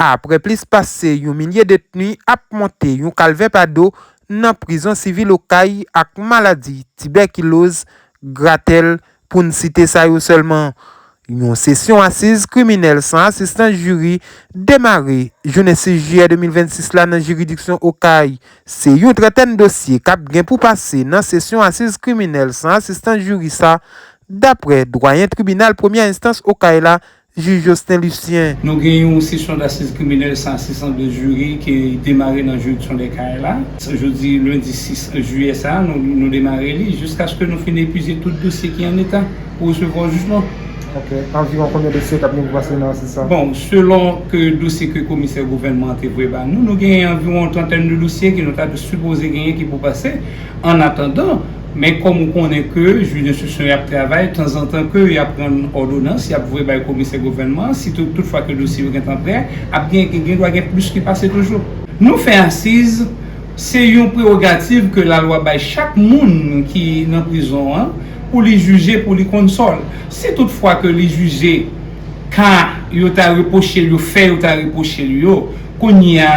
apre plis pase yon milye detni ap monte yon kalvè pa do nan prizon sivil Okay ak maladi tibèkiloz, gratèl, pou n site sa yo sèlman. Yon sesyon asiz kriminèl san asistans jiri demare jounen 6 jiyè 2026 la nan jiridiksyon Okay. Se yon trantèn dosye k ap gen pou pase nan sesyon asiz kriminèl san asistans jiri sa, dapre dwayen tribinal premyè enstans Okay la, Jij Josten Lucien. Nou gen yon sesyon dasiz kriminèl 100-602 jiri ki demare nan jiridiksyon dè Kayes la. Jodi lendi 6 jiyè sa a, nou demare li jiskaske nou fin epize tout dosye ki an eta pou resevwa jijman. Anviwon konbyen dosye k ap gen pou pase nan asiz sa a? Bon, selon ke dosye ke komisè gouvènman an te voye ba nou, nou gen anviwon yon trantèn de dosye ke nou ta sipoze genyen ki pou pase. Annatandan. Men kòm ou konnen ke jij enstriksyon yo ap travay, tanzantan ke yo ap rann òdonans, yo ap voye bay komisè gouvènman an, si tout fwa ke dosye yo gen tan prè, ap gen, gen dwa gen plis ki pase toujou. Nou fè asiz, se yon prewogativ ke lalwa bay chak moun ki nan prizon an, pou li jije, pou li konn sò l. Si tout fwa ke li jije ka yo ta repwoche l yo fè yo ta repwoche l yo, kounye a,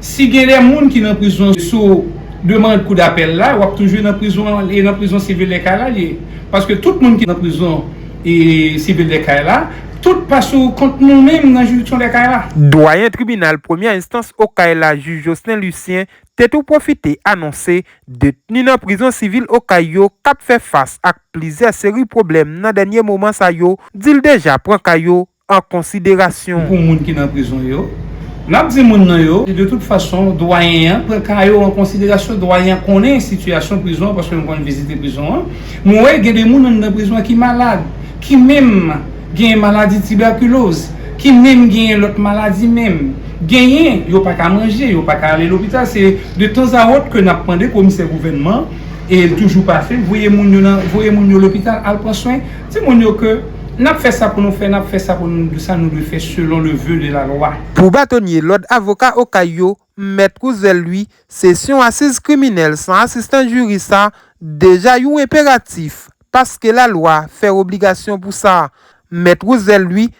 Si gen de moun ki nan prizon sou demand kou dapèl la, wap toujou nan prizon an, e nan prizon sivil de kay la li ye. Paske tout moun ki nan prizon e sivil de kay la, tout pa sou kont nou menm nan jiridiksyon de kay la. Dwayen tribinal premyè enstans Okay la jij Jocelin Lucien te tou pwofite anonse detni nan prizon sivil Okay yo kap fè fas ak plizyè seri pwoblèm nan dènye moman sa yo, dil deja pran ka yo an konsiderasyon. Pou moun ki nan prizon yo, n ap di moun nan yo. De tout fason, Dwayen an pran ka yo an konsiderasyon. Dwayen an konnen sitiyasyon prizon an paske nou konn vizite prizon an. Nou wè gen de moun anndan prizon an ki malad, ki menm genyen maladi tibèkiloz, ki menm genyen lòt maladi menm. Genyen, yo pa ka manje, yo pa ka ale lopital. Se de tanzawòt ke n ap mande komisè gouvènman, e l toujou pa fè l, voye moun yo lopital al pran swen. Di moun yo ke N ap fè sa pou nou fè, n ap fè sa pou nou dwe sa nou dwe fè selon le voeu de la loi. Pou batonye lòd avoka Okay yo, Mèt Rouzel Louis, sesyon asiz kriminèl san asistans jiri sa deja yon enperatif paske lalwa fè obligasyon pou sa. Mèt Rouzel Louis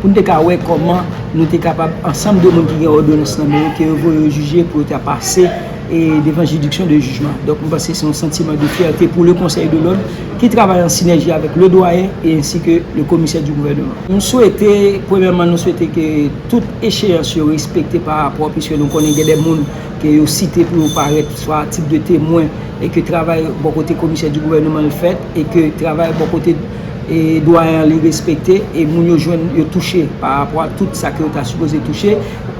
pou n te ka wè kòman nou te kapab ansanm de moun ki gen òdonans nan men yo ke yo voye yo jije pou yo ta pase devan jiridiksyon de jijman. Donk, m panse se yon santiman de fyète pou le Conseil de l'Ordre ki travay an sinèji avèk le Doyen e ensi ke le Commissaire du Gouvernement. M swete, premyèman nou swete ke tout echeyans yo respekte pa rapò puiske nou konnen gen de moun ke yo site pou yo parèt swa a tit de temwen e ke travay bò kote Commissaire du Gouvernement l fèt e ke travay bò kote e dwa an li respekte e moun yo jwenn yo touche pa rapò a tout sa ke yo ta sipoze touche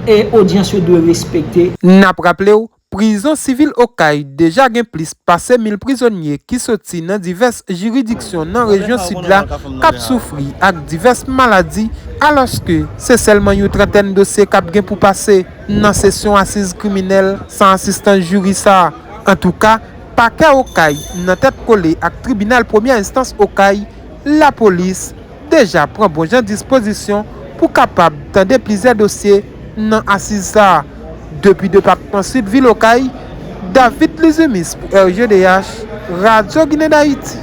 e odyans yo dwe respekte. N ap raple w, prizon sivil Okay deja gen plis pase 1000 prizonye ki soti nan divès jiridiksyon nan rejyon Sid la k ap soufri ak divès maladi alòske se sèlman yon trantèn dosye k ap gen pou pase nan sesyon asiz kriminèl san asistans jiri sa. Antouka. Pakè Okay nan tèt kole ak tribinal premyè enstans Okay, lapolis deja pran bon jan dispozisyon pou kapab tande plizyè dosye nan asiz sa a. Depi depatman Sid vil Okay, David Lizumis pou RGDH, Radyo Ginen Dayiti.